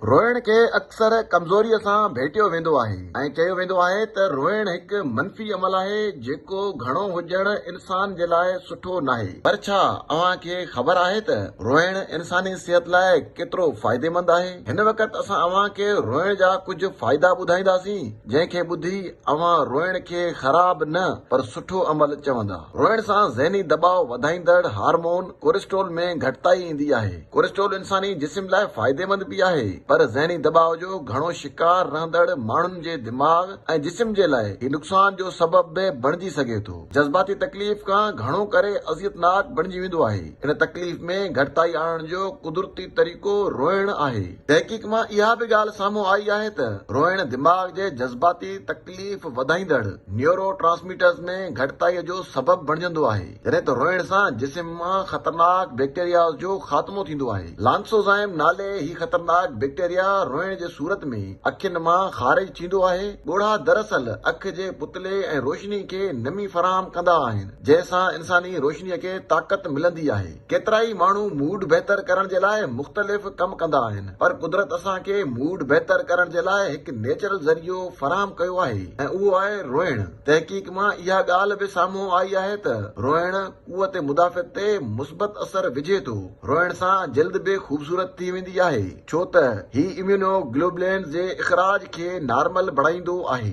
روئڻ کي اڪثر ڪمزوريء سان ڀيٽيو ويندو آهي ۽ چيو ويندو آهي ته روئڻ هڪ منفي عمل آهي جيڪو گهڻو هجڻ انسان جي لاء سٺو ناهي. پر ڇا اوهان کي خبر آهي ته روئڻ انساني صحت لاء ڪيترو فائديمند آهي؟ هن وقت اسان اوهان کي روئڻ جا ڪجهه فائدا ٻڌائينداسين جنهن کي ٻڌي اوهان روئڻ کي خراب نه پر سٺو عمل چوندا. روئڻ سان ذهني دٻاء وڌائيندڙ هارمون ڪورسٽول ۾ گهٽتائي ايندي آهي. ڪورسٽرول انساني جسم لاء فائديمند به آهي پر ذهني دٻاء جو گهڻو شڪار رهندڙ ماڻهن جي دماغ ۽ جسم جي لاء هي نقصان جو سبب به بڻجي سگهي ٿو. جذباتي تڪليف کان گهڻو ڪري اذيتناڪ بڻجي ويندو آهي. ان تڪليف ۾ گهٽتائي آڻڻ جو قدرتي طريقو روئڻ آهي. تحقيق مان اها به ڳالهه سامهون آئي آهي ته روئڻ دماغ جي جذباتي تڪليف وڌائيندڙ نيورو ٽرانسميٽرز ۾ گهٽتائي جو سبب بڻجندو آهي. جڏهن ته روئڻ سان جسم مان خطرناڪ بيڪٽيرياز جو خاتمو ٿيندو آهي. لانسوزائم نالي هي خطرناڪ بيڪٽيريا روئڻ جي صورت ۾ اکين مان خارج ٿيندو آهي. ڳوڙها دراصل اک جي پتلي ۽ روشني کي نمي فراهم ڪندا آهن، جنهن سان انساني روشني کي طاقت ملندي آهي. ڪيترائي ماڻهو موڊ بهتر ڪرڻ جي لاء مختلف ڪم ڪندا آهن، پر قدرت اسان کي موڊ بهتر ڪرڻ جي لاء هڪ نيچرل ذريعو فراهم ڪيو آهي ۽ اهو آهي روئڻ. تحقيق مان اها ڳالهه به سامهون آئي آهي ته روئڻ قوت مدافعت تي مثبت اثر وجهي ٿو. روئڻ سان جلد به خوبصورت ٿي ويندي آهي ڇو ته هي اميونو گلوبلينز جي اخراج کي نارمل بڻائيندو آهي.